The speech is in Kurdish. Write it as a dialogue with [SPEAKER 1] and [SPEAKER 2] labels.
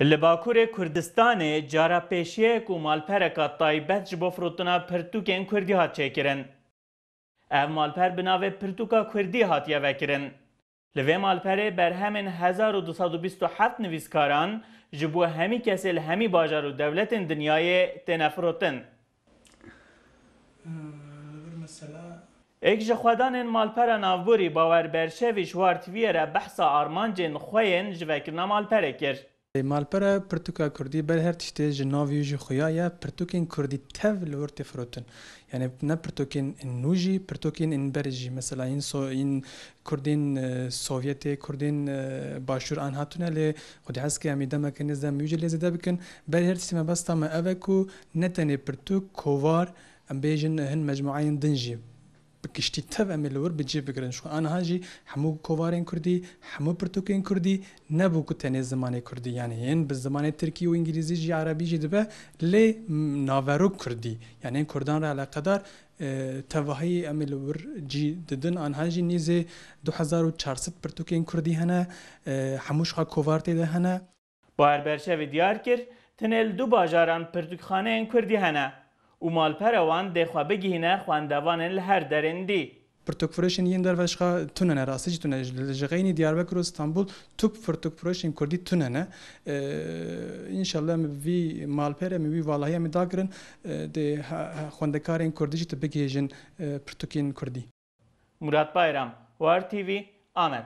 [SPEAKER 1] Li Bakurê Kurdistanê cara pêşiyek û malpereka taybet ji bo firotina pirtûkên kurdî hat çêkirin. Ev malper bi navê Pirtûka Kurdî hatiye vekirin. Li vê malperê berhemên hezar û du sed û bîst û heft nivîskaran ji bo hemî kesê li hemî bajar û dewletên dinyayê têne firotin. Êk ji xwedanên malpera navborî Bawer Berşevî ji war tiviyê re behsa armancên xwe yên ji vekirina malperê kir. Malpera pirtûka kurdî ber her tiştê ji nav yû jî xuya ye, pirtûkên kurdî tev li wir tê firotin. Yanî ne pirtûkên nû jî, pirtûkên yên berî jî. Mesela yên so yên kurdên sovyetê, kurdên başûr an hatine lê xwedî hez ke em ê demeke nêz dem yû jî lê zêde bikin. Berî her tiştê mebesta me ev e ku Ne tenê pirtûk, kovar, em bêjin hin mecmueyên din jî bi giştî tev em ê li wir bi cih bigirin. Ji xwe aniha jî hemû kovarên kurdî, hemû pirtûkên kurdî nebû ku tenê zimanê kurdî yanî yên bi zimanê tirkî û îngîlîzî jî erebî jî dibe lê naverok kurdî yanî yên kurdan re eleqedar tevahî em ê li wir cî didin. Aniha jî nêzê du hezar û çar sed pirtûkên kurdî hene hemû ji xwe kovar tê de hene. Bahar Berşevî diyar kir, Tenê li du bajaran pirtûkxaneyên kurdî hene û malpera wan dê xwe bigihîne xwendevanên li her derên dî. Pirtûkfirûşên yên derve jixwe tune ne, rastî jî tune ne. Li Jixeynî, Diyarbekir û Stenbol tu pirtûkfirûşên kurdî tune ne. Înşallah em vî malpere em ê wî valahî em ê dakirin dê xwendekarên kurdî jî tu bigihêjin pirtûkên kurdî. Murat Bayram, War TV, Amed.